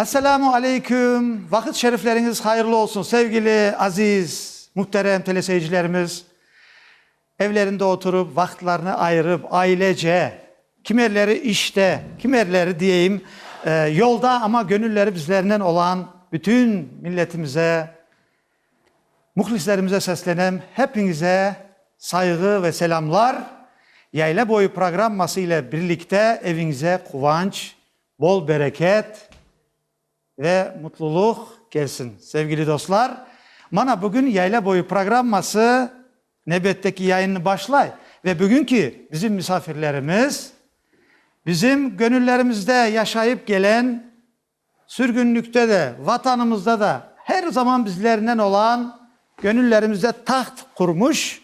Esselamu aleyküm! Vaqıt şerifleriñiz hayırlı olsun, sevgili aziz, mühterem teleseyircilerimiz! Evlerinde oturıp, vaqıtlarını ayırıp, ailece, kimerleri işte, kimerleri diyeyim, yolda, amma göñülleri bizlernen olan bütün milletimize, mühlislerimize seslenem, hepiñize sayğı ve selâmlar! Yayla boyu programması ile birlikte eviñize quvanç, Bol bereket ve mutluluq kelsin. Sevgili dostlar, mana bugün Yayla boyu programması nevbetteki yayınnı başlay. Ve bugünki bizim misafirlerimiz, bizim gönüllerimizde yaşayıp gelen, sürgünlikte de, Vatanımızda da her zaman bizlernen olan Göñüllerimizde taht qurmuş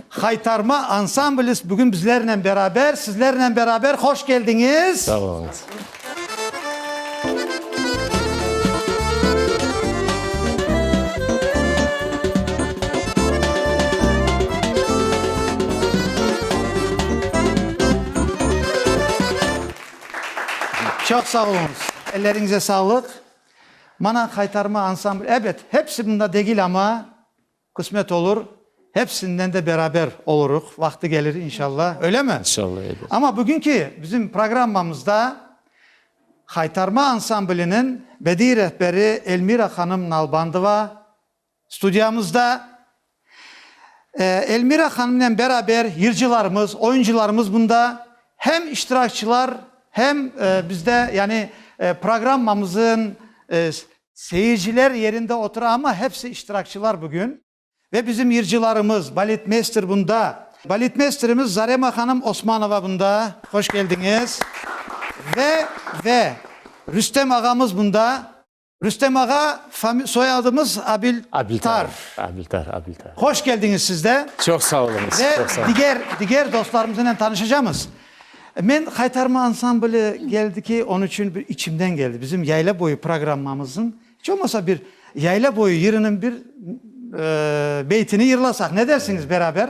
Haytarma ansamblis bugün bizlernen beraber, sizlernen beraber hoş keldiñiz! Sağ oluñız! Çoq sağ oluñız! Elleriñize sağlıq! Mana qaytarma ansambl, ebet, hepsi bunda degil, amma küsmet olur, hepsinden de beraber oluruq, vaqtı gelir, inşalla, öylemi? İnşalla, ebet. Amma bugünki bizim programmamızda qaytarma ansambliniñ bediy rehberi Elmira hanım Nalbandova Studiyamızda Elmira hanımnen beraber yırcılarımız, oyuncılarımız bunda, hem iştirakçılar, hem bizde, yani programmamızın. Seyirciler yerinde otura, amma hepsi iştirakçılar bugün. Ve bizim yırcılarımız, baletmeyster bunda. Baletmeysterimiz Zarema hanım Osmanova bunda, hoş keldiñiz. Ve, ve Rüstem ağamız bunda. Rüstem ağa, fami, soyadımız Abil, Abiltar. Abiltar, Abiltar. Hoş geldiñiz siz de. Çoq sağ oluñız, Ve çoq sağ oluñız. diger, diger dostlarımızınen tanışacamız. Men Haytarma ansambli geldi ki, onıñ içün bir içimden geldi. Bizim Yayla boyu programmamızıñ, iç olmasa bir Yayla boyu yırınıñ bir, eee, beytini yırlasaq, ne dersiñiz beraber?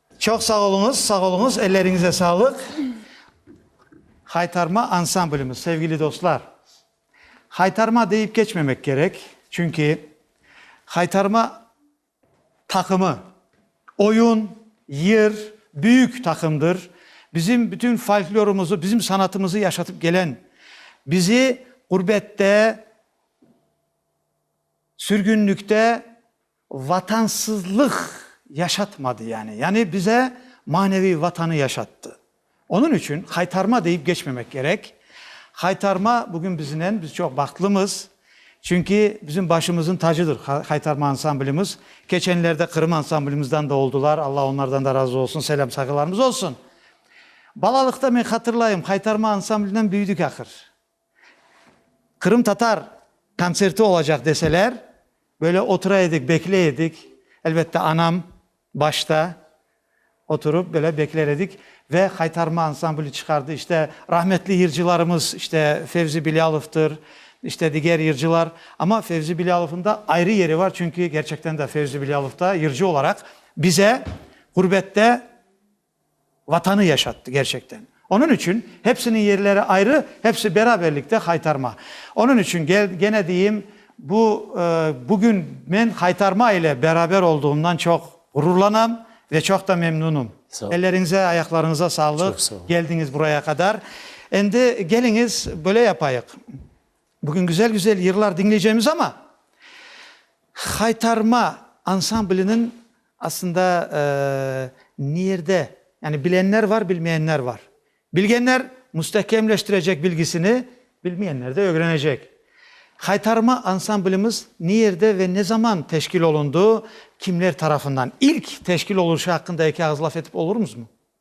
Çoq sağ oluñız, sağ oluñız, elleriñize sağlıq. Haytarma ansamblimiz, sevgili dostlar, Haytarma deyip keçmemek kerek, çünki Haytarma taqımı, oyun, yır, büyük taqımdır, bizim bütün folklorumızı, bizim sanatımızı yaşatıp kelen, bizi ğurbette, sürgünlikte Vatansızlıq yaşatmadı yani. Yani bize maneviy Vatanı yaşattı. Onıñ içün haytarma deyip geçmemek kerek. Haytarma bugün biznen, biz çoq bahtlımız. Çünki bizim başımızıñ tacıdır Haytarma ansamblimiz. Keçenlerde Qırım ansamblimizden de oldılar, Alla onlardan da razı olsun, selâm sayğılarımız olsun. Balalıqta men hatırlayım, Haytarma ansamblinden büyüdik ahır. Qırımtatar kontserti olacaq deseler, böyle otura edik, bekley edik. Elbette, anam başta oturıp, böyle bekler edik. Ve Qaytarma ansambli çıqardı. İşte, rahmetli yırcılarımız, işte, Fevzi Bilâlovdır, işte, diger yırcılar. Amma Fevzi Bilâlovnıñ da ayrı yeri var, çünki, gerçekten de, Fevzi Bilâlov da yırcı olaraq bize ğurbette Vatanı yaşattı, gerçekten. Onıñ içün, hepsiniñ yerleri ayrı, hepsi beraberlikte Haytarma. Onıñ içün, gene deyim, bu, bugün men Haytarma ile beraber olduğımdan çoq ğururlanam ve çoq da memnunım. Elleriñize, ayaqlarıñıza sağlıq, keldiñiz buraya qadar. Endi keliñiz, böyle yapayıq. Bugün güzel-güzel yırlar diñleycemiz, amma Haytarma ansambliniñ aslında nerde, yani bilenler var, bilmeyenler var. Bilgenler müstekemleştirecek bilgisini, bilmeyenler de ögrenecek. Haytarma ansamblimiz nerde ve ne zaman teşkil olundı, kimler tarafından? İlk teşkil oluşu aqqında eki ağız laf etip olurmızmı?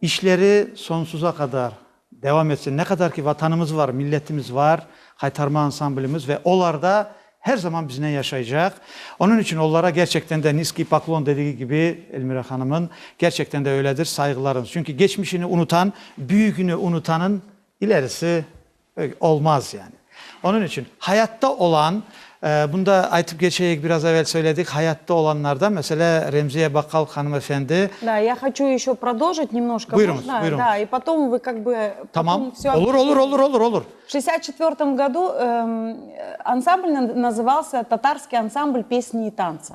İşleri sonsuza qadar devam etsin. Ne qadar ki Vatanımız var, milletimiz var, Qaytarma ansamblimiz ve olarda her zaman biznen yaşaycaq. Onıñ içün olara gerçekten de niskiy poklon dedigi kibi Elmira hanımın, gerçekten de öyledir, sayğılarıñız. Çünki geçmişini unutan, büyügini unutanın ilerisi. Olmaz yani. Onıñ içün hayatta olan, bunda aytıp keçeyik, biraz evel söyledik, hayatta olanlardan, meselâ, Remziye Bakkal hanımefendi. Da, ya haçu eşo prodolžit nemnoşka, можно? Buyurıñız, buyurıñız. Da, i potom vı kak bı. Tamam, olur, olur, olur, olur, olur. V şestdesят çetvertom godu ansamblniñ nazıvalsa Tatarskiy ansamblь pesni i tantsı.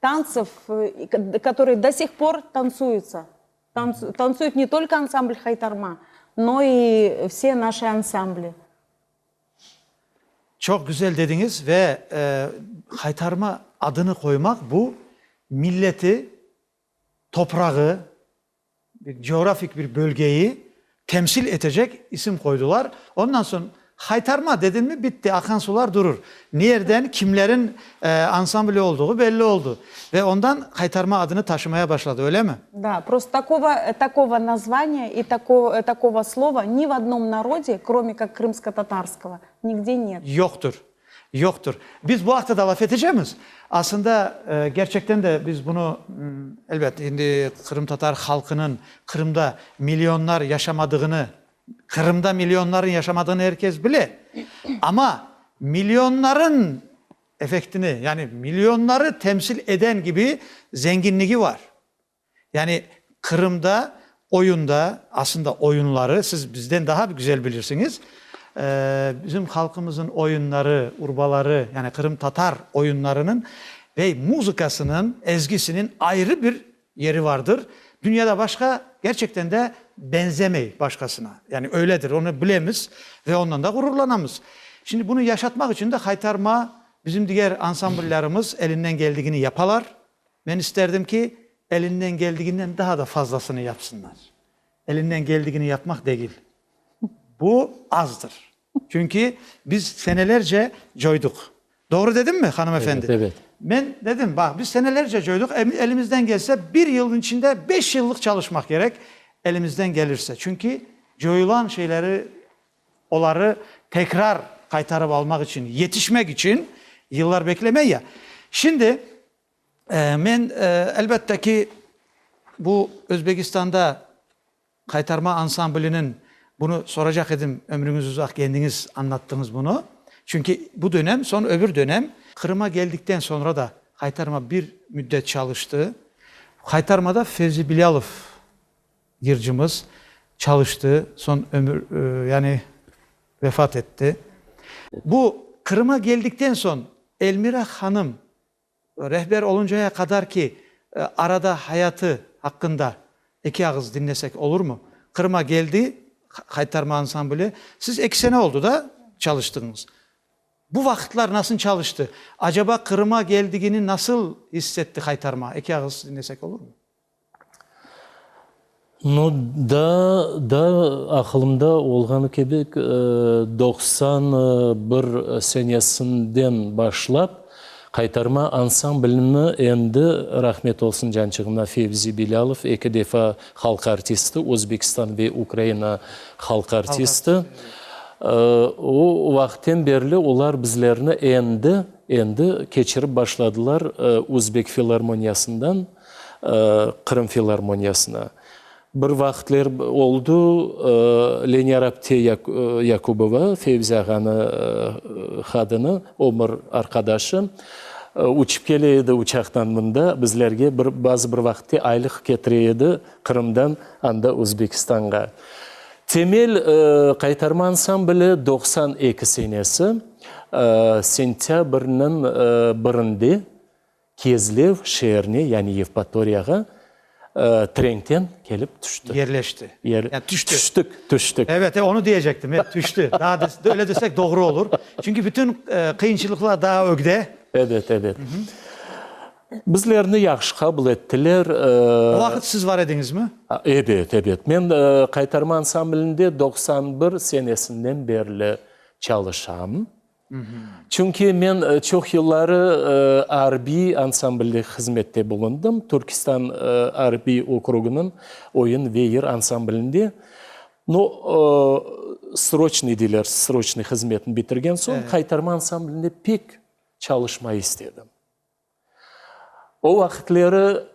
tantsov, katorıy do sih por tantsuyıtsa, tantsuyıt ne tolko ansamblь Haytarma, no i vse naşi ansambli. Çoq güzel dediñiz ve Haytarma adını qoymaq bu milleti, toprağı, Coğrafik bir bölgeyi temsil etecek isim qoydular. Ondan soñ Haytarma dedin mi, bitti, aqan sular durur. Nerden, kimlerin ansambli olduğu belli oldu. Ve ondan Haytarma adını taşımaya başladı, öylemi? Da, prosto takova, takova nazvaniya i takova, takova slova ni v odnom narode, krome kak krımskotatarskovo, nigde net. Yoqtur. Yoqtır. Biz bu aqta da laf etecemiz. Asında, kerçekten de biz bunı, elbet, şimdi qırımtatar halqınıñ Qırımda millionlar yaşamadığını, Qırımda millionlarnıñ yaşamadığını er kes bile. Amma millionlarnıñ effektini, yani millionları temsil eden kibi zenginligi var. Yani Qırımda oyunda, aslında oyunları, siz bizden daha güzel bilirsiñiz, bizim halqımızın oyunları, urbaları, yani qırımtatar oyunlarınıñ ve muzıkasınıñ, ezgisiniñ ayrı bir yeri vardır. Dünyada başqa, gerçekten de benzemey başqasına. Yani öyledir, onı bilemiz ve ondan da ğururlanamız. Şimdi bunı yaşatmaq içün de Haytarma, bizim diger ansambıllarımız elinden geldigini yapalar, Men isterdim ki, elinden geldiginden daa da fazlasını yapsınlar. Elinden geldigini yapmaq degil. Bu azdır. Çünki biz senelerce coyduq. Doğru dedimmi, hanım efendi? Evet, evet. Men dedim, baq, biz senelerce coyduq, elimizden gelse bir yılnıñ içinde beş yıllıq çalışmaq kerek, elimizden gelirse. Çünki coyulan şeyleri, oları tekrar qaytarıp almaq içün, yetişmek içün yıllar beklemey ya. Şimdi Men, elbette ki, bu Özbegistanda Qaytarma ansambliniñ, bunı soracaq edim, ömrüñiz uzaq, kendiñiz añlattıñız bunı, çünki bu dönem, soñ öbür dönem. Qırım'a keldikten soñra da Qaytarma bir müddet çalıştı. Qaytarmada Fevzi Bilâlov yırcımız çalıştı, soñ ömür, yani vefat etti. Bu Qırım'a keldikten soñ Elmira hanım Rehber oluncaya qadar ki, arada hayatı aqqında eki ağız diñlesek olurmı? Qırım'a geldi, Qaytarma ansambli. Siz eki sene oldı da çalıştıñız. Bu vaqıtlar nasıl çalıştı? Acaba Qırım'a geldigini nasıl iss etti Qaytarma? Eki ağız diñlesek olurmı? No. Daa, daa aqılımda olğanı kibi, doqsan bir senesinden başlap Qaytarma ansamblini endi, rahmet olsun cançığına, Fevzi Bilâlov, eki defa halq artisti, Özbekistan ve Ukraina halq artisti, o vaqıttan berli olar bizlerni endi, endi keçirip başladılar Özbek filarmoniyasından. Qırım filarmoniyasına. Bir vaqıtler oldu, Lenyarabte Yakubova, Fevzi ağanı hadını, ömür arqadaşı, uçıp kele edi uçaqtan mında, bizlerge bir, bazı bir vaqıtte aylıq ketire edi Qırımdan anda Özbekistanğa. Temel, qaytarmansam bile, doqsan eki senesi, sentâbrniñ birinde Kezlev şeerine, yani Yevpatoriyağa trenkten kelip tüşti. Yerleşti. Yani tüşti. Tüştik, tüştik. Evet, e, onu diyecektim, e, tüşti. Daa biz öyle desek doğru olur. Çünki bütün qıyınçılıqlar daa ögde. Evet, evet. Bizlerni yahşı qabul ettiler. O vaqıt siz bar ediñizmi? Evet, evet. Men Qaytarma ansamblinde doqsan bir senesinden berli çalışam. Çünki men çoq yılları arbiy ansamblde hızmette bulundım, Türkistan arbiy okrugınıñ oyun ve yır ansamblinde. No, sroçnıy deyler, sroçnıy hızmetni bitirgen soñ, Qaytarma ansamblinde pek çalışmayı istedim. O vaqıtları,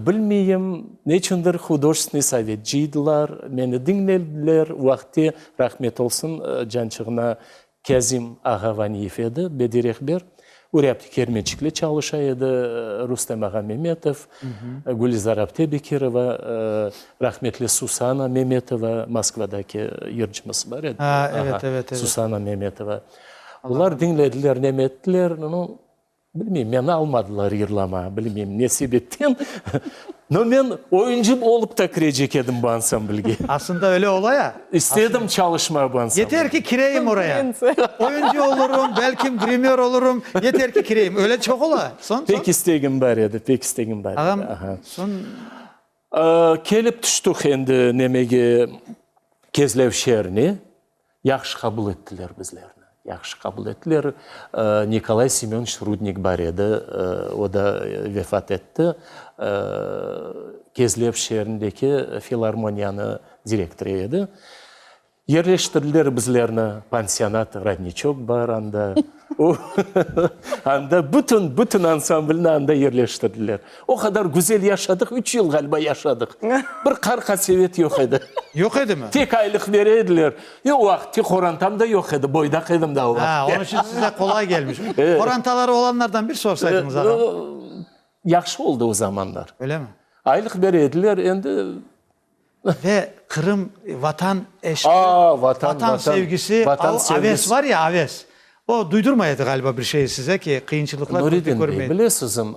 bilmeyim, neçündir Hudojestvenıy sovetciydılar, meni diñlediler, o vaqıtte, rahmet olsun, cançığına Kâzim ağa Vaniyev edi, bedi rehber, Urâpti Kermençikle çalışa edi, Rustem ağa Memetov, Gülizar apte Bekirova, rahmetli Susana Memetova, Moskvadaki yırcımız bar edi, Susana Memetova, olar diñlediler, nemettiler, no. Bilmeyim, meni almadılar yırlama, bilmeyim ne sebepten, no men oyuncı olıp da kirecek edim bu ansamblge. Asında öyle ola ya. İstedim çalışma bu ansamblge. Yeter ki kireyim oraya. Oyuncı olurum, belkim grimör olurum, yeter ki kireyim. Öyle çoq ola. Soñ, soñ? Pek istegim bar edi, pek istegim bar edi. Ağam, soñ? Kelip tüştik endi nemege Kezlev şeerine. Yahşı qabul ettiler bizlerni. Yahşı qabul ettiler. Nikolay Semyonıç Rudnik bar edi, o da vefat etti. Kezlev şeerindeki filarmoniyanı direktorı edi. Yerleştirdiler bizlerni pansionat, rodniçok bar anda. O, anda bütün, bütün ansamblni anda yerleştirdiler. O qadar güzel yaşadıq, üç yıl ğaliba yaşadıq. Bir qarqa-sevet yoq edi. Yoq edimi? Tek aylıq bere ediler. Yoq, o vaqıtki qorantam da yoq edi, boydaq edim da o vaqıt. Ha, onıñ içün size qolay kelmiş. Qorantaları olanlardan bir sorsaydınız, ağam. Yahşı oldı o zamanlar. Öylemi? Aylıq bere ediler, endi. Ve Qırım, Vatan eşqi. Aa, Vatan, Vatan. Vatan sevgisi, Vatan o sevgisi. aves var ya, aves. O duydurmay edi galiba bir şeyi size ki, qıyınçılıqlar körpe Nuridin körmey. bey, bilesizim,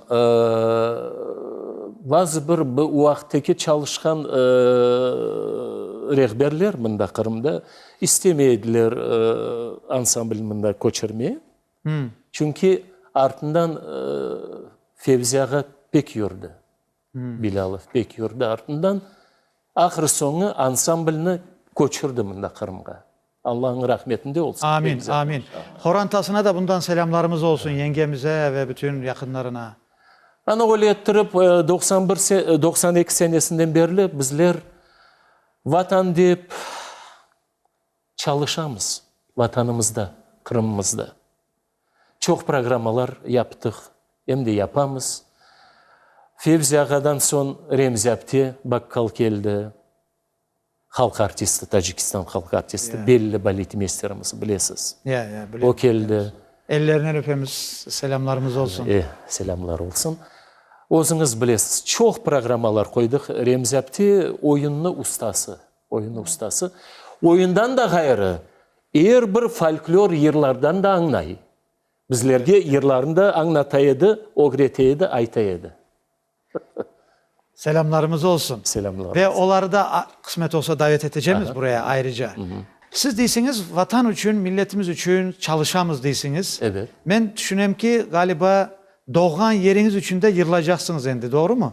bazı bir bu uaqtteki çalışqan rehberler mında Qırımda istemey ediler ansamblni mında köçürmeye. Çünki artından Fevzi ağa pek yurdi. Bilâlov pek yurdi artından, ahır-soñu ansamblni köçürdi mında, Qırımğa. Allañıñ rahmetinde olsun. Amin, amin. Horantasına da bundan selâmlarımız olsun, yengemize ve bütün yaqınlarına. Ana öyle ettirip, doqsan bir, doqsan eki senesinden berli bizler Vatan dep çalışamız, Vatanımızda, Qırımımızda. Çoq programmalar yaptıq, em de yapamız. Fevzi ağadan soñ Remzi apte bakkal keldi. Halq artisti, Tacikistan halq artisti, belli baletmeysterimiz, bilesiz. Ya, ya, bilemiz. O keldi. Ellerinen öpemiz, selâmlarımız olsun. E, selâmlar olsun. Özüñiz bilesiz, çoq programmalar qoydıq. Remzi apte oyunni ustası, Oyun ustası oyundan da ğayrı er bir folklor yırlardan da añlay. Bizlerge yırlarnı da añlata edi, ögrete edi, ayta edi. Selâmlarımız olsun. Selâmlarımız. Ve oları da qısmet olsa davet etecemiz buraya ayrıca. Siz deysiñiz, Vatan içün, milletimiz içün çalışamız deysiñiz. Evet. Men tüşünem ki, ğaliba doğğan yeriñiz içün de yırlaycaqsıñız endi, doğrumu?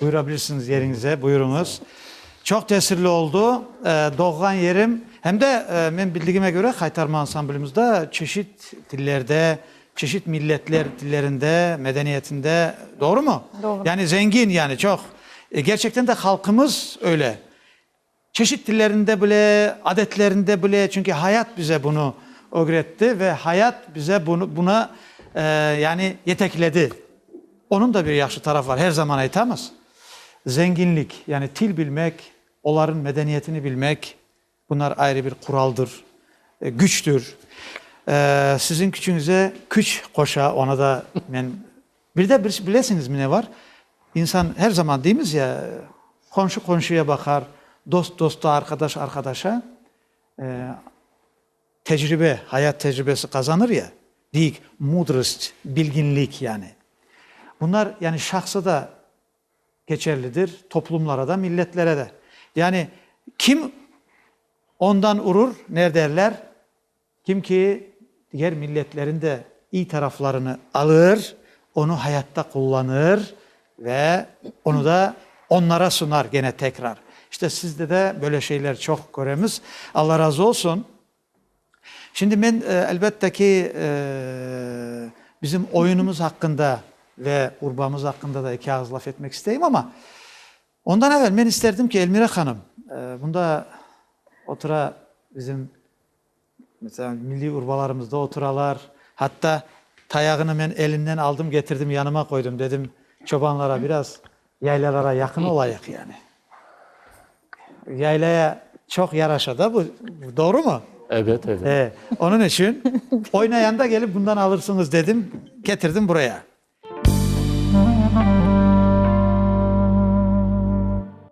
Buyurabilirsiniz yeriñize, buyurıñız. Çoq tesirli oldu. Doğğan yerim, hem de men bildigime köre Haytarma ansamblimizde çeşit tillerde, çeşit milletler tillerinde, medeniyetinde, doğrumu? Doğru. Yani zengin yani çoq. Gerçekten de halqımız öyle. Çeşit tillerinde bile, adetlerinde bile, çünki hayat bize bunı ögretti ve hayat bize bunı, buna, yani yetekledi. Onıñ da bir yahşı tarafı var, her zaman aytamız, zenginlik, yani til bilmek, olarnıñ medeniyetini bilmek, bunlar ayrı bir quraldır, güçtür. Siziñ küçüñize küç qoşa, onı da men Bir de bilesiñizmi ne bar, insan her zaman deymiz ya, qomşu qomşuya baqar, dost dosta, arqadaş arqadaşa, tecribe, hayat tecribesi qazanır ya, deyik, mudrost, bilginlik yani. Bunlar yani şahsa da keçerlidir, toplumlara da, milletlere de. Yani kim ondan urur, ne derler? Kim ki, diger milletlerin de iy taraflarını alır, onı hayatta qullanır ve onı da onlara sunar gene tekrar. İşte sizde de böyle şeyler çoq köremiz. Alla razı olsun. Şimdi men, elbette ki, bizim oyunumız aqqında ve urbamız aqqında da eki ağız laf etmek isteyim, amma ondan evel men isterdim ki, Elmira hanım, bunda otura bizim Meselâ, milliy urbalarımızda oturalar. Hatta tayağını men elinden aldım, getirdim, yanıma qoydum. Dedim, çobanlara biraz yaylalara yaqın olayıq, yani. Yaylaya çoq yaraşa da bu, doğrumı? Evet, evet. Ee, onıñ içün oynayanda gelip bundan alırsıñız dedim, getirdim buraya.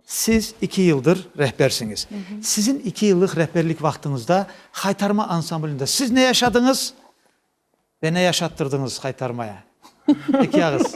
Siz iki yıldır rehbersiñiz. Sizin iki yıllıq rehberlik vaqtıñızda Haytarma ansamblinde siz ne yaşadıñız ve ne yaşattırdıñız Haytarmaya? Eki ağız.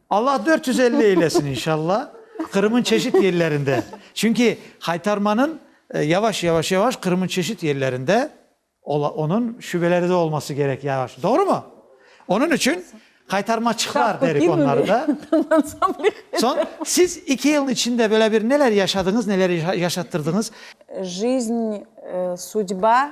Allah dört yüz elli eylesin inşalla Qırım'ın çeşit yerlerinde. Çünki qaytarmanın yavaş yavaş yavaş Qırım'ın çeşit yerlerinde onın şübeleri de olması gerek yavaş. Doğru mu? Onın için qaytarmaçıqlar derik onları da. Soñ siz iki yılın içinde böyle bir neler yaşadınız, neler yaşattırdınız? Jiznı, sudba,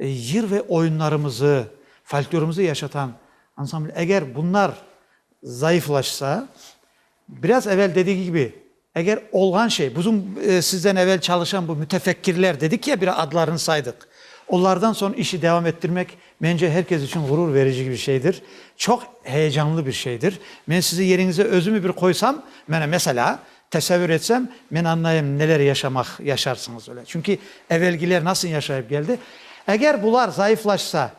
Yır ve oyunlarımızı, folklorımızı yaşatan ansambl. Eger bunlar zayıflaşsa, biraz evel dediği kibi, eger olğan şey, bizim sizden evel çalışan bu mütefekkirler dedik ya, bir adlarını saydıq, onlardan soñ işi devam ettirmek, mence, her kes içün ğurur verici bir şeydir, çoq heyecanlı bir şeydir. Men sizi yeriñizde özümi bir qoysam, mene, meselâ, Tesavür etsem, men añlayım, neler yaşamaq, yaşarsıñız öyle. Çünki evelgiler nasıl yaşayıp geldi. Eger bular zayıflaşsa,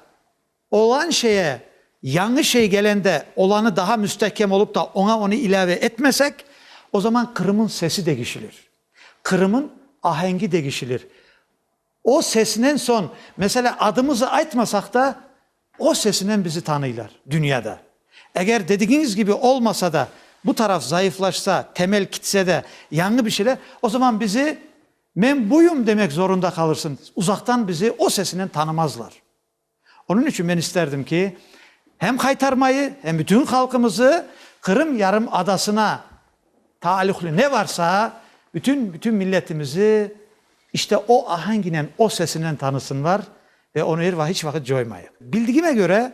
olan şeye yañı şey gelende, olanı daha müstehkem olup da, oña onı ilâve etmesek, o zaman Qırım'ın sesi degişilir, Qırım'ın ahengi degişilir. O sesinen soñ, meselâ, adımızı aytmasaq da, o sesinen bizi tanıylar, dünya da. Eger dedigiñiz kibi olmasa da, bu taraf zayıflaşsa, temel kitse de, yañı bir şeyler, o zaman bizi men buyum demek zorunda qalırsıñ, uzaqtan bizi o sesinen tanımazlar. Onıñ içün men isterdim ki, hem qaytarmayı, hem bütün halqımızı Qırım yarımadasına taalluqlı ne varsa, bütün, bütün milletimizi işte o ahanginen, o sesinen tanısınlar ve onı er vaqıt, hiç vaqıt coymayıq. Bildigime köre,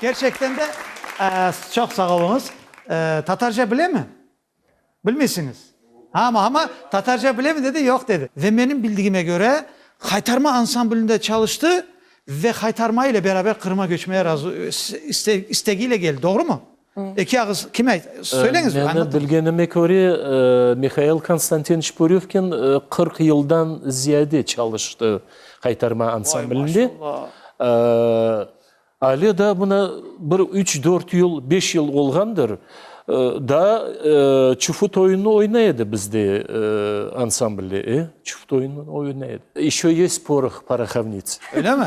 Kerçekten de çoq sağ oluñız. Tatarca bilemi? Bilmeysiñiz. Ama, ama tatarca bilemi dedi, yoq dedi. Ve menim bildigime köre, Haytarma ansamblinde çalıştı ve Haytarma ile beraber Qırım'a göçmeye razı, istegi ile geldi. Doğru mu? Eki ağız kime, söyleñiz. Menim bilgenime köre, Mihail Konstantinç Pürüvkin qırq yıldan ziyade çalıştı Haytarma ansamblinde. Ay, maşallah. Ále daa mına bir üç, dört yıl, beş yıl olğandır, daa çufut oyunını oynay edi bizde ansamblde, e, çufut oyunını oynay edi. Eşo yest poroh porohovnits. Öyle mi?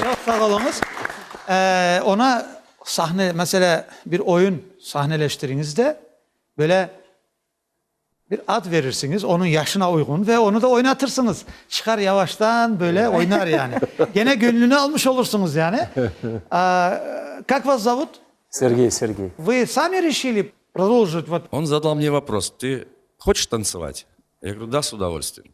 Çoq sağ oluñız. Oña sahne, meselâ, bir oyun sahneleştiriñiz de, böyle bir ad verirsiñiz, onıñ yaşına uyğun ve onı da oynatırsıñız. Çıqar yavaştan, böyle oynar yani. Gene göñlüni almış olursuñuz yani. Kak vas zavut? Sergey, Sergey. Vı sami rişili prodolžit vot? On zadal mne vopros, tı hoçiş tantsovat? Ya qırıu, da, s udovolstviyen.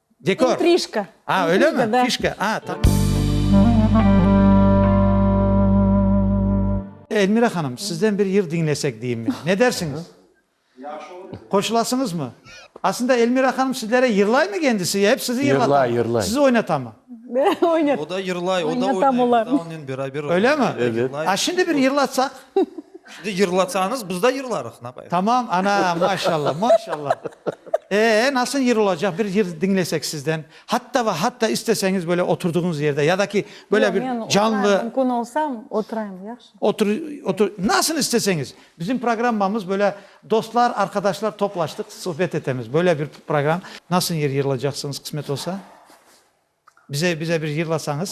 Dekor. İntrişka. A, öylemi? İntriga, da. Fişka, a, tamam. Elmira hanım, sizden bir yır diñlesek deyim men. Ne dersiñiz? Yahşı olur. Qoşulasıñızmı? Aslında Elmira hanım sizlere yırlaymı kendisi, ya hep sizi yırlatamı? Yırlay, yırlay. Sizi oynatamı? Oynat. O da yırlay, o da Oynatam olar. oynay, biz de onen beraber oynayız. Öylemi? Evet. Yırlay. A, şimdi bir yırlatsaq. Siz de yırlasañız, biz de yırlarıq, ne yapayıq? Tamam, ana, maşalla, maşalla. Ee, nasıl yır olacaq, bir yır diñlesek sizden. Hatta ve hatta isteseñiz böyle oturduğuñız yerde ya da ki böyle bir canlı. Yoq, men oturayım, mümkün olsa oturayım, yahşı. Otur, otur, nasıl isteseñiz. Bizim programmamız böyle dostlar, arqadaşlar toplaştıq, suhbet etemiz, böyle bir program. Nasıl yır yırlacaqsıñız, qısmet olsa? Bize, bize bir yırlasañız.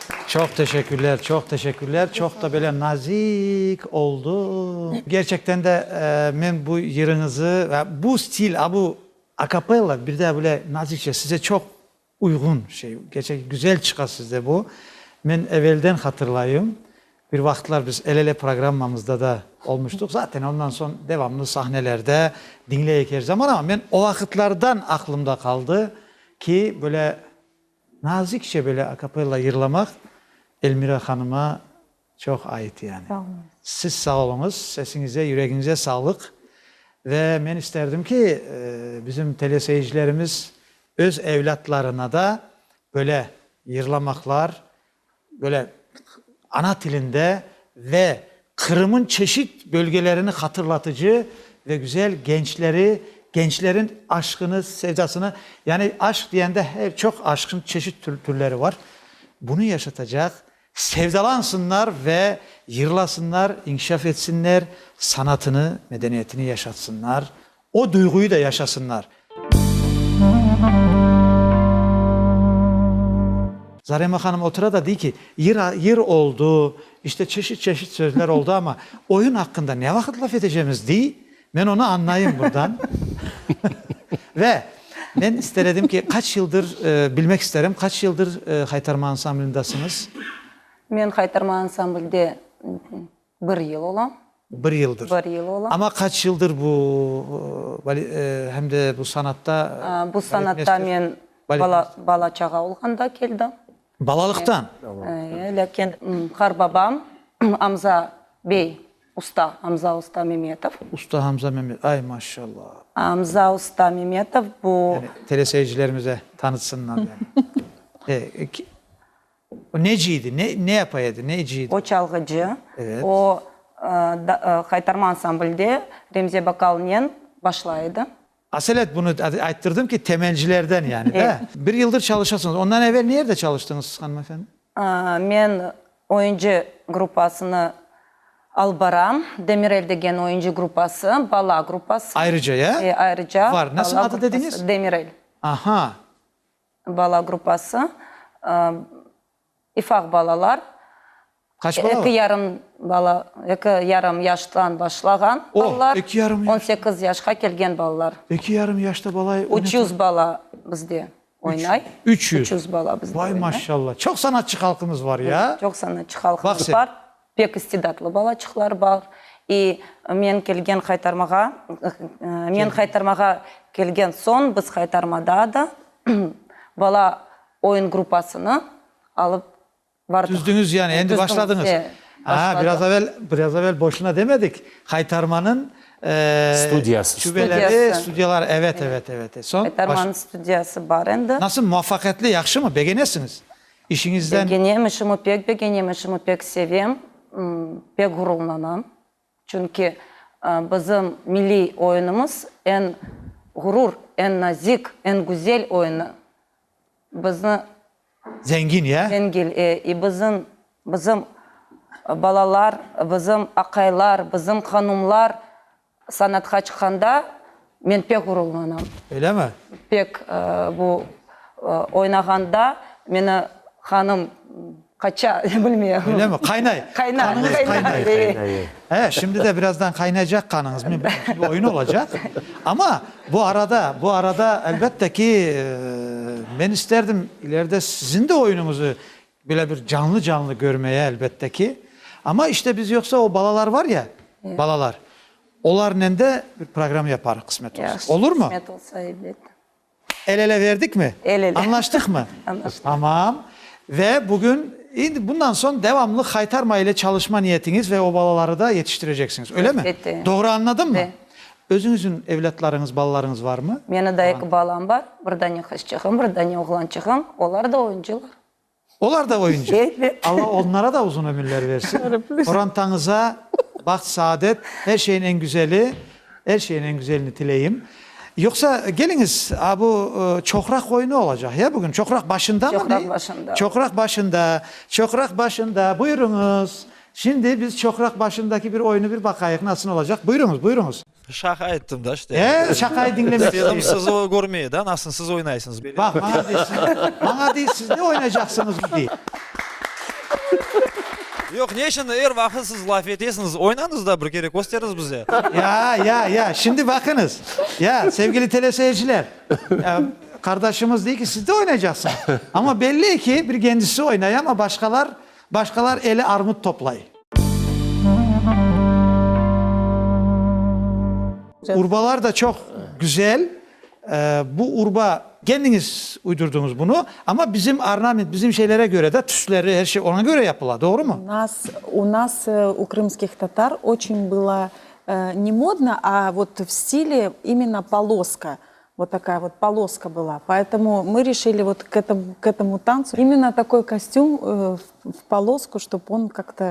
Çoq teşekkürler, çoq teşekkürler, çoq da böyle nazik oldu. Gerçekten de men bu yırıñızı ve bu stil, a bu akapella, bir de böyle nazikçe, size çoq uyğun şey, gerçekten güzel çıqa sizde bu. Men evelden hatırlayım, bir vaqıtlar biz El-ele programmamızda da olmuştuq, zaten ondan soñ devamlı sahnelerde diñleyik er zaman, ama men o vaqıtlardan aqlımda qaldı ki, böyle. Nazikçe böyle akapella yırlamaq Elmira hanıma çoq ait yani. Sağ oluñız. Siz sağ oluñız, sesiñize, yüregiñize sağlıq. Ve men isterdim ki, bizim teleseyircilerimiz öz evlâtlarına da böyle yırlamaqlar, böyle ana tilinde ve Qırım'ın çeşit bölgelerini hatırlatıcı ve güzel gençleri, gençlerin aşkını, sevdasını, yani aşk diyende her çoq aşkın çeşit türleri var, bunu yaşatacaq, sevdalansınlar ve yırlasınlar, inkişaf etsinler, sanatını, medeniyetini yaşatsınlar, O duyğuyı da yaşasınlar. Zarema hanım otura da dey ki, yır yır oldu, işte çeşit çeşit sözler oldu, amma oyun aqqında ne vaqıt laf etecemiz, dey, men onı añlayım burdan. Ve men ister edim ki, qaç yıldır, bilmek isterim, qaç yıldır Haytarma ansamblindasıñız? Men Haytarma ansamblde Bir yıl ola. Bir yıldır. Bir yıl ola. Amma qaç yıldır bu bale, hem de bu sanatta? Bu sanatta men bala, bala-çağa olğanda keldim. Balalıqtan? Eee, lâkin qarbabam Amza bey usta, Amza usta Memetov. Usta Amza Memetov, ay, maşallah. Amza usta Memetov bu. Teleseyircilerimize tanıtsınlar. Eee, O neci edi? Ne, ne yapa edi? Neci edi? O çalğıcı. Evet. O, ıı, qaytarma ansamblde Remze Bakalnen başlay edi. Aselet, bunı ayttırdım ki, temelcilerden yani da. Bir yıldır çalışasıñız. Ondan evel nerde çalıştıñız siz, hanımefendi? Men oyuncı gruppasını alıp baram. Demirel degen oyuncı gruppası, bala gruppası. Ayrıca, ya? E, ayrıca. Var. Nasıl adı dediñiz? Demirel. Aha. Bala gruppası, ifaq balalar, eki yarım bala, eki yarım yaştan başlağan balalar, on sekiz yaşqa kelgen balalar. Üç yüz bala bizde oynay. Üç yüz bala bizde oynay. Vay, maşallah! Çoq sanatçı halqımız bar ya! Çoq sanatçı halqımız bar. Pek istidatlı balaçıqlar bar. İ, men kelgen qaytarmağa, men qaytarmağa kelgen soñ biz qaytarmada da bala oyun gruppasını alıp bardıq. Tüzdüñiz yani, endi başladıñız. Tüzdüm, e, başladım. Aa, biraz evel, biraz evel boşuna demedik, qaytarmanıñ, e, Studiyası. şubeleri, studiyaları, evet, evet, evet. Soñ, baş. Qaytarmanıñ studiyası bar endi. Nasıl, muvafaqiyetli, yahşımı, begenesiñiz? İşiñizden. Begenem, işimi pek begenem, işimi pek sevem, pek ğururlanam. Çünki bizim milliy oyunımız eñ ğurur, eñ nazik, eñ güzel oyunı. Bizni. Zengin, ya? Zengil, e. E, bizim, bizim balalar, bizim aqaylar, bizim hanumlar Sanatqa çıqqanda men pek ğururlanam. Öylemi? Pek. Bu oynağanda meni qanım qaça, bilmeyem. Öylemi? Qaynay. Qaynay. Qanıñız qaynay. Qaynay, qaynay, e. He, şimdi de birazdan qaynaycaq qanıñız. Men bildim ki, bu oyun olacaq. Amma bu arada, bu arada, elbette ki, men isterdim ileride siziñ de oyunıñızı Böyle bir canlı-canlı körmeye, elbette ki. Amma işte biz yoqsa o balalar var ya, balalar, olarnen de bir program yaparıq qısmet olsa. Yahşı, Olur mu? qısmet olsa, elbet. El-ele verdik mi? El-ele. Añlaştıq mı? Añlaştıq. Tamam. Ve bugün, indi bundan soñ devamlı haytarma ile çalışma niyetiñiz ve o balaları da yetiştireceksiñiz, öyle mi? Elbette. Doğru añladım mı? Be. Özüñizün evlâtlarıñız, balalarıñız var mı? Meni da eki balam bar, bir dane qızçığım, bir dane oğlançığım. Olar da oyuncılar. Olar da oyuncı. Alla onlara da uzun ömürler versin. Qorantañıza baht, saadet, er şeyin en güzeli, er şeyin en güzelini tileyim. Yoqsa, keliñiz, a bu çoqraq oyunı olacaq, ya, bugün? Çoqraq başında mı ne? Çoqraq başında. Çoqraq başında. Buyuruñız. Şimdi biz çoqraq başındaki bir oyunı bir baqayıq, nasıl olacaq. Buyuruñız, buyuruñız. Şaqa ettim da işte. E, şaqayı diñlemek isteyim. İstedim siz o körmey da, nasıl siz oynaysıñız. Baq, maña de, siz, maña de, siz ne oynaycaqsıñız bu dey. Yoq, ne içün er vaqıt siz laf etesiñiz? Oynañız da bir kere, kösteriñiz bize. Ya, ya, ya, şimdi baqıñız. Ya, sevgili teleseyirciler, ya, qardaşımız dey ki, siz de oynaycaqsıñız. Amma belli ki, bir kendisi oynay, amma başqalar, Başqalar ele armut toplay. Urbalar da çoq güzel. Bu urba. Kendiñiz uydurdıñız bunı, amma bizim ornament, bizim şeylere köre de, tüsleri, her şey oña köre yapıla, doğrumı? U nas, u krımskih tatar, oçün bıla ne modno, a vot v stile imenna poloska, Vot takaya vot poloska bıla, poetomu mı rişili vot k etomu tancu imенно takoy kostüm v polosku, ştob on kak to.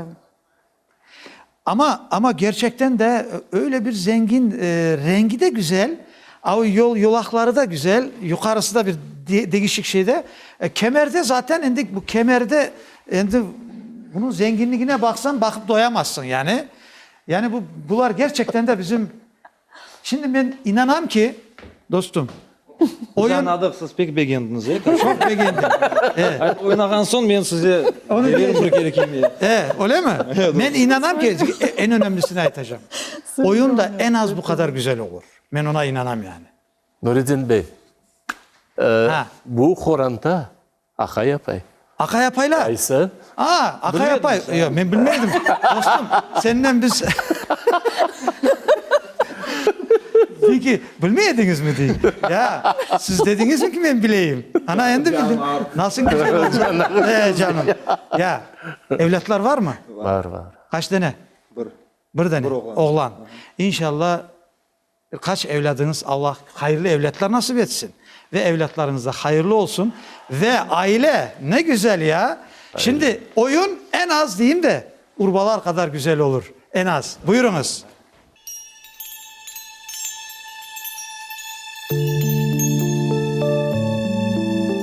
Amma, amma gerçekten de öyle bir zengin, rengi de güzel, a o yol, yolaqları da güzel, yuqarısı da bir degişik şeyde, kemerde zaten endi bu kemerde endi bunıñ zenginligine baqsañ, baqıp doyamazsıñ yani. Yani bu, bular gerçekten de bizim Şimdi men inanam ki, dostum, Biz añadıq, siz pek begendiñiz, e? Çoq begendim, e. Oynağan soñ men size bererim bir kere kiymeyi. E, öyle mi? Men inanam ki, eñ önemlisini aytacağım. Oyun da eñ az bu qadar güzel olur. Men oña inanam yani. Nuredin bey, bu qoranta Aqay apay. Aqay apaylar? Qaysı? A, aqay apay. Yo, men bilmeydim. Dostum, senden biz. Dey ki, bilmey ediñizmi? dey. Ya, siz dediñizmi ki, men bileyim? Ana, endi bildim. Nasıl güzel oldı. E, canım. Ya, evlâtlar varmı? Var, var. Qaç dene? Bir. Bir dene. Oğlan. İnşalla, Bir qaç evlâdıñız Alla hayırlı evlâtlar nasip etsin ve evlâtlarıñız da hayırlı olsun ve aile ne güzel ya şimdi oyun en az deyim de urbalar qadar güzel olur en az buyurıñız.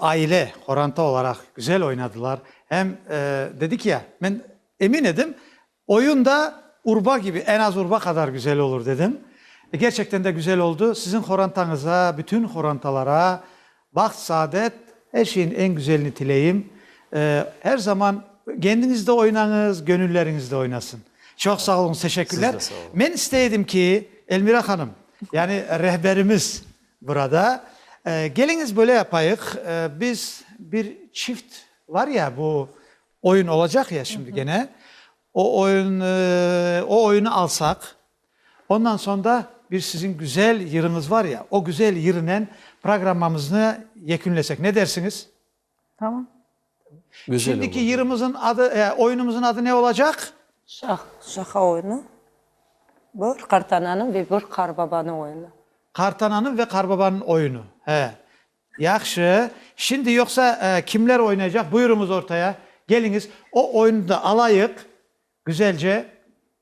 Aile qorantı olaraq güzel oynadılar. Em dedik ya, men emin edim, oyun da urba kibi, en az urba qadar güzel olur dedim. Gerçekten de güzel oldu. Siziñ qorantañıza, bütün qorantalara baht, saadet, er şeyiñ en güzelini tileyim. Her zaman kendiñiz de oynañız, köñülleriñiz de oynasın. Çoq sağ oluñız, teşekkürler. Men istey edim ki, Elmira hanım, yani rehberimiz, Burada, keliñiz böyle yapayıq, biz bir çift var ya, bu oyun olacaq ya şimdi gene, o oyun, o oyunı alsaq, ondan soñ da bir siziñ güzel yırıñız var ya, o güzel yırınen programmamıznı yekünlesek, ne dersiñiz? Tamam. Şimdiki yırımızın adı, oyunumızın adı ne olacaq? Şah, şaha oyunu. Bir qartananıñ ve bir qarbabanıñ oyunu. Qartananıñ ve qarbabanıñ oyunu. He. Yahşı. Şimdi yoqsa kimler oynaycaq? Buyurıñız ortaya. Keliñiz. O oyunı da alayıq güzelce.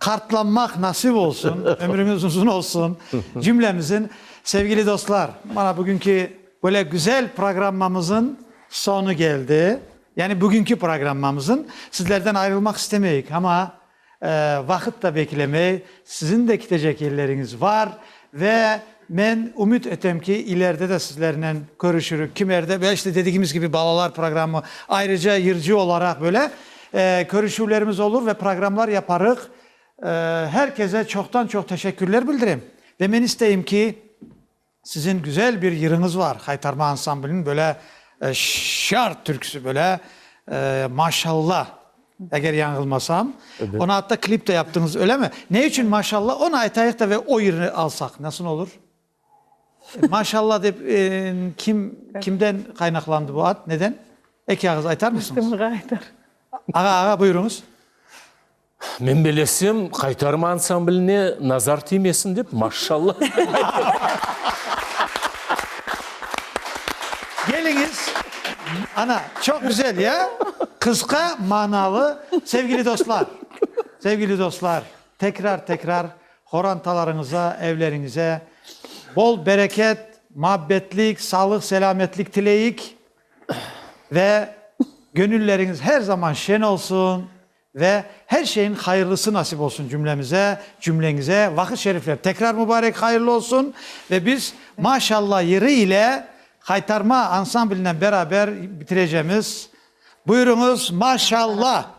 Qartlanmaq nasip olsun, ömrüñiz uzun olsun cümlemizin. Sevgili dostlar, mana bugünki böyle güzel programmamızın soñu keldi. Yani bugünki programmamızın. Sizlerden ayrılmaq istemeyik, ama vaqıt da beklemey, sizin de kitecek yerleriñiz var, Ve men ümüt etem ki, ileride de sizlernen körüşürük. Kimerde böyle işte dedigimiz kibi balalar programı, ayrıca yırcı olaraq böyle körüşüvlerimiz olur ve programlar yaparıq. Her keze çoqtan çoq teşekkürler bildirem. Ve men isteyim ki, sizin güzel bir yırıñız var, Haytarma ansambliniñ böyle şart türküsi böyle, maşallah. Eger yañılmasam, onı atta klip de yaptıñız, ölemi? Ne içün maşalla, onı aytayıq da ve o yırnı alsaq, nasıl olur? Maşalla dep kim, kimden qaynaqlandı bu ad, neden? Eki ağız aytar mısıñız? Kim ağa aytar? Ağa, ağa, buyuruñız. Men bilesem, Qaytarma ansamblne nazar tiymesin dep, maşalla. Keliñiz, ana, çoq güzel, ya? Qısqa, manalı. Sevgili dostlar, sevgili dostlar, tekrar, tekrar qorantalarıñıza, evleriñize bol bereket, muabbetlik, sağlıq, selâmetlik tileyik ve gönülleriñiz her zaman şen olsun, Ve her şeyiñ hayırlısı nasip olsun cümlemize, cümleñize vaqıt şerifler tekrar mübarek hayırlı olsun ve biz Maşalla yırı ile Haytarma ansamblinen beraber bitireceğimiz. Buyuruñız Maşalla!